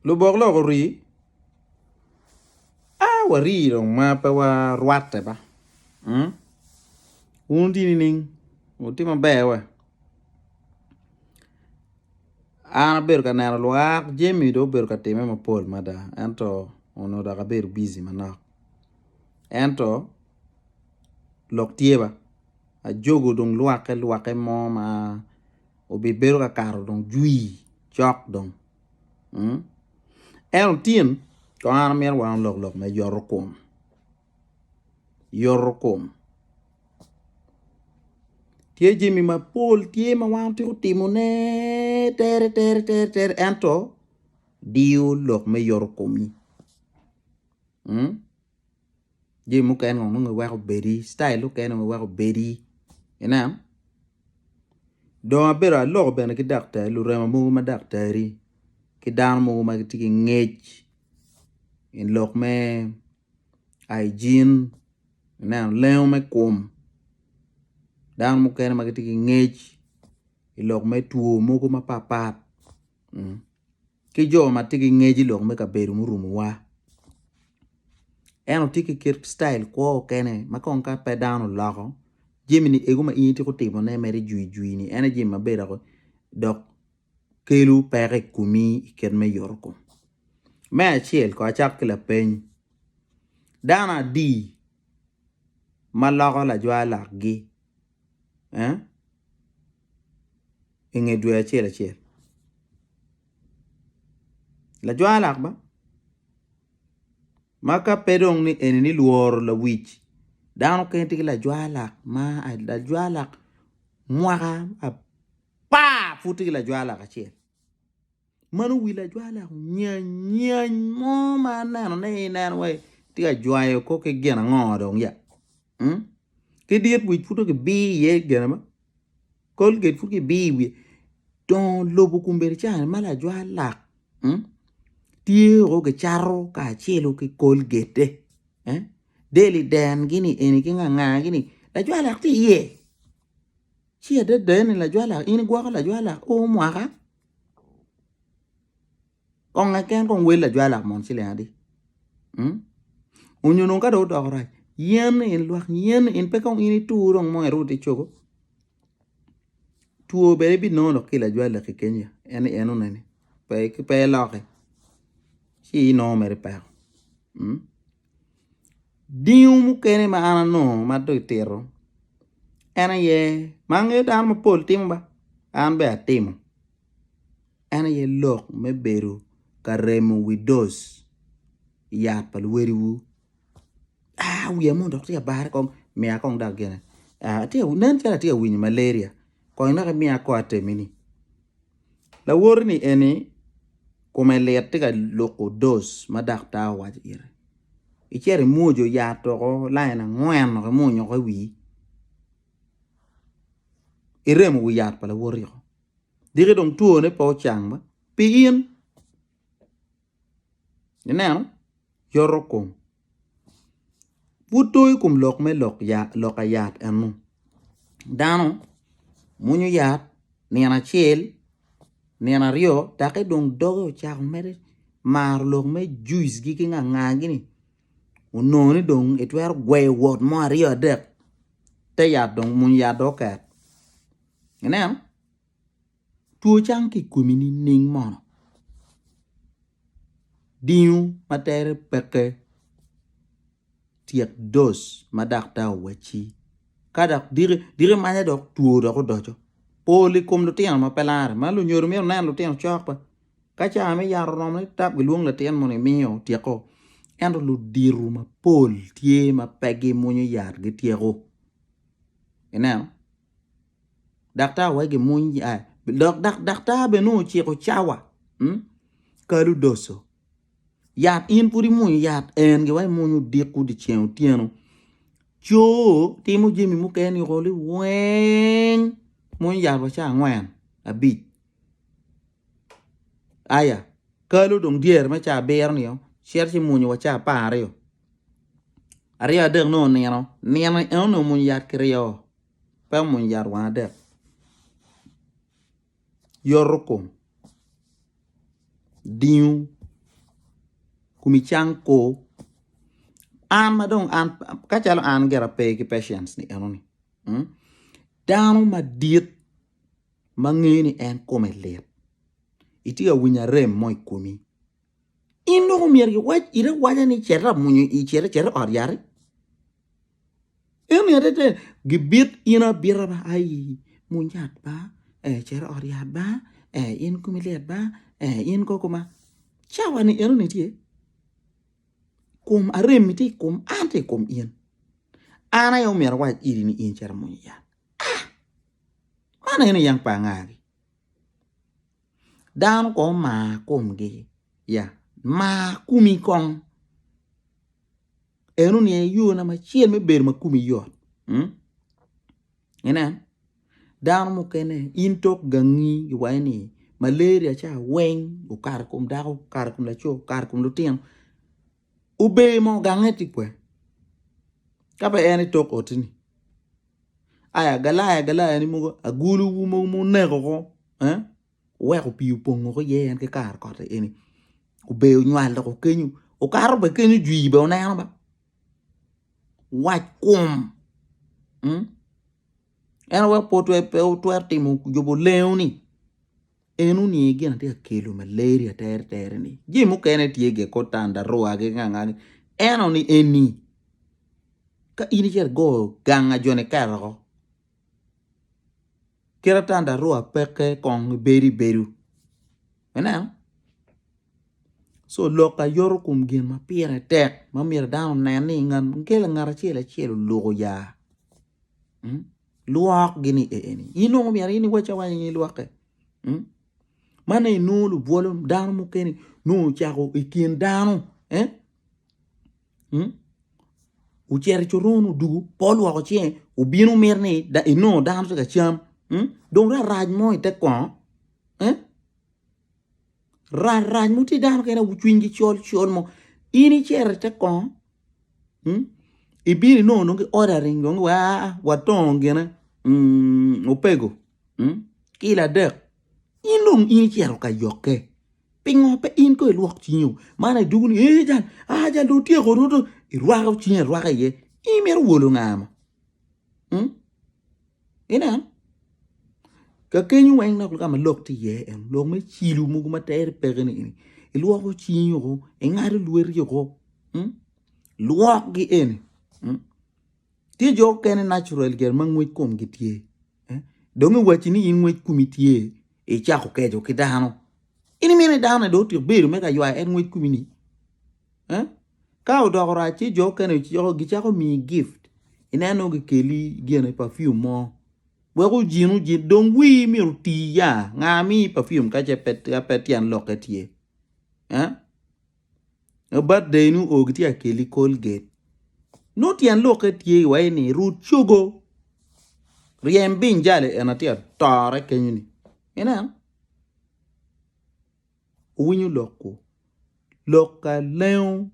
lubok lok orii aah warii dong ma pe warwatte ba mm wun wutye nining wutye maber wa an abedo ka neno lwak jami dong obedo ka timme mapol mada ento onongo dok abedo bici manok ento lok tye ba ajogo dong lwakke lwakke mo ma obibedo kakato dong jwi cok dong mm ento tin kong an amito wa lok lok me yoto kom yoto kom tye jami mapol tye ma wan watwero timo ne tere tere tere ento diyo lok me yoto komi mm jami mukene ngo nongo iweko obedi citayil mukene ngo iweko obedi ineno dong abedo aloko bene ki daktari lurema mogo ma daktari ki dano mogo ma gitye ki ngec i lok me aijin ineno lengo me kom dano mukene ma gitye ki ngec i lok me two mogo mapatpat. ki jo ma tye ki ngec i lok me kabedo murumowa. Ento tye ki kit citail kwo mukene ma kong ka pe dano oloko jamini eko ma in ityeko timone mere ijwijwi-ni en aye jami maber woko dok kelo peko i komi i kit me yotkom. Me acel kong acak ki lapeny, dano adi ma loko lajwalakgi? eh inge dwe acel acel lajwalak ba ma ka pe dong ni eni ni lworo lawic dano kene tye ki lajwalak ma lajwalak mwaka apar pud tye ki lajwalak acel. Man owil ajwala nyanyany mo ma anenone aye ineno wai tye ka jwayo kong ki gin ango dong ya mm ki dit wic pud dong kibir iye gin mo colgate pud kibir i wiye dongo lobo kombeddi ca ma lajwalak mm tye o kicato kacelu ki colgate-te eh deli den gini eni ki nga nga gini lajwalak tye iye ci adada ni lajwalak in igwoko lajwalak o mwaka. Kong eken kong wel lajwalo amon ciling adi mm onyo dong ka dong odoko rac yen ni in lwak yen ni in pe kong in itur dong mo iruu ti cogo two bene ibinongo dok ki i lajwal laki kenya en ni en oneni pe iloki ci inongo mere peko mm Dingo mukene ma an anongo ma dong itito en aye ma angeyo dano mapol timo ba an bene atimo en aye lok me bedo ka remo wi doc yat pa luwadiwu aa wiya mono dok tye ka bare kong miya kong dok gine nen calo atye ka winyo malaria kong inaka imiya kong atemi ni. Lawoti-ni eni kome lit tye ka luko doc ma daktar owaco ite. Icito imwojo yat doko lain angwen dok imunyoko i wii. Iremo wi yat pa lawoti woko. Diki dong twone pe ocang ba pi in. Ineno? Yoto kom. Pud to i kom lok me loka yat enu, dano mwonyo yat nino acel, nino aryo doki dong doge ocako mere maro lok me juice gi ki ngangagi ni onongo ni dong itwero gweyo wot mo aryo adek te yat dong mwonyo yat dong oket ineno. Two cang ki ikomi nining mono? Dingo ma tere peke tyek dose ma daktar owacci. Ka dok diki manya dok two dok odoco pol i kom lutino ma pe lare ma lunyodo myero lunen lutino cok be ka cawa me yat oromo ni dok gilwong latin moni imiyo otyeko ento ludito mapol tye ma pe gimwonyo yat gityeko ineno. daktar wek gimuny dok daktar bene nongo ociko cawa kal odoco yat in pud imuny yat en gin ma imuny odiko dyeceng otyeno co timo jami mukene weng muny yat wa cawa angwen abic. Aya, kalo dong dyere me caa abiro nio cito ci munyu wa caa apar aryo, aryo adek nongo onino, nino eno ni omunyu yat kiryo oo pe omunyu yat wang adek yoto kom dingo kun icang kor an ma dong an kacalo an gira pe ki patience ni eno ni dano madit. ma ngeyo ni en kome lit, itye ka winyo arem mo i komi. In dong omyero iwac ite awaca ni cet amunyu i cere cet i ot yati. Eni adada gibit in abita ba aii muny yat ba ee cet i ot yat ba ee in komi lit ba ee in kong kuma cawa ni enoni tye kom arem-mi tye i kom an tye i kom in, an aye omyero awac iti ni in cet amunyu yat. Ah! Man aye ni yam pa angagi. Dano kong omar komgi ya mar komi kong en oniang aye yo na acel me bedo ma komi yot mm inen dano mukene in tok gangi giwaco ni malaria ca weng okato i kom dako, okato i kom laco, okato i kom lutino. Ober mo gange tye kwene ka pe en itok oti ni ai agalai agalai ni mogo agulu wu mogo muneko ko eh wuweko pii opongo ko iye en ki kare koti eni ober onywal dok okenyo okato bene kenyo jwir bene oneno ba wac kum en aye pe wutwero timo jubo lengo ni. En oniye gin atye ka kelo maleri ateretere ni jami mukene tye ge kod tandarua ki nganga gi eno ni eni ka in icito go ganga jo ni keto ko kit a tandarua peke kong ibedo ibedo ineno so lok aye yoto kom gin ma pire tek ma myero dano onen ni ngat acel acel oluko ya. Lwok gini eeni. Inongo myero in iwac awaca in ilwoke. Hmm? Man inongo lubwolo dano mukene nongo cako i kin dano. Eh? Hmm? Ucero i coron odugu, po lwoko cinge, ubino mit ni da, inongo dano tye ka cam. Hmm? Dong rarac mo ite kongo. Eh? Rac rac mo tye dano kene cwiny gi col col mo in icito ite kongo mm ibino inongo dong ki ordering dong wa aa watongo gine mm opego mm kilo adek in dong in icito ka yokke pingo pe in kong ilwok cingi o ma dong idwogo ni ee jal aa jal dong otyeko orwado irwako cingi arwaka iye in imito wolo nga mo. Ineno? Ka keny weng dok ka ma lok tye iye en lok me cilo mogo ma tere peke ni eni ilwoko cingi woko ingado lweti woko lwokgi eni tye jo mukene nacural gin ma ngwec komgi tye dong iwaci ni in ngwec komi tye icako keco ki dano. In imito ni dano-ni dong otyek bedo me ka ywayo en ngwec kumi-ni? Eh? Ka odoko rac ci jo okene ociko gicako miyi gift. Ineno nongo gikeli gine perfume mo. Wek ojin ojin dong wii myero oti ya. Nga miyi perfume ka ce pe ka pe tyen lokke tye? Eh? Eh, Birthday ni o gitye ka keli Colgate. Nongo tyen lokke tye iwaci ni rut cogo. Ryem biny jali en atye atore kenyo-ni. Ineno? Wuwinyo lok-gu? Lok ka lengo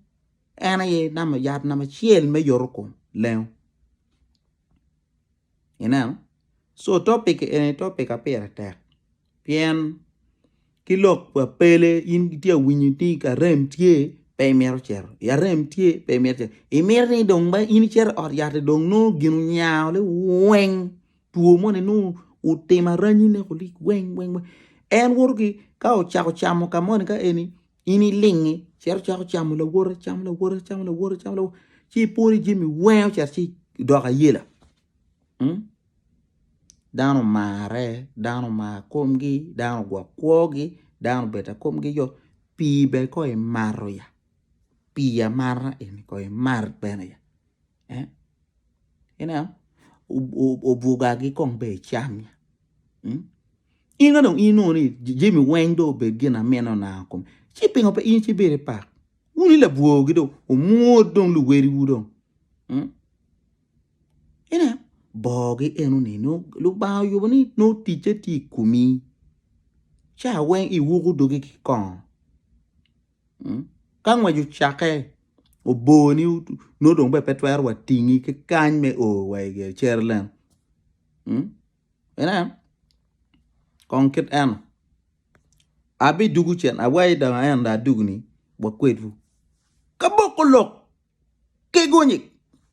en aye yat namba acel me yoto kom, lengo. Ineno? Co topic eni topic ma pire tek pien ki lok pa pele in itye ka winyo ni ka rem tye pe imito cito, ka rem tye pe imito cito, imito ni dong in icito i ot yat-ti dong nongo gin onyango-le weng Two moni nongo otimo aranyi ne kulik weng weng weng. En woto ki ka ocako camo ka moni ka eni in ilingi cito cako camo lawote camo lawote camo lawote camo lawote ci ipwodi jami weng ocito ci idoko ayela. Mm? Dano omare, dano omar komgi, dano ogwok kwogi, dano obeta komgi yo. Pii bene ko imato ya. Pii amata eni ko imar bene ya. obwogagi kong bene icam in ka dong inongo ni jami weng dong obed gin ma mine ona kome ci pingo pe in ibedo ki pak wun i labwogi dong omwod dong luwadiwu dong ineno bongogi enoni nongo Lubanga oyubo ni nongo ticce tye i komi ca weng iwoko dogi ki kongo. Ka ngwec ocakke obor ni nongo dong bene pe twero wa tingi ki kany me o wa i Jerucalem inen kong kit eno abidugu cen awayi dong aen dong adugoni wa kwedwu ka boko lok ki gunyi.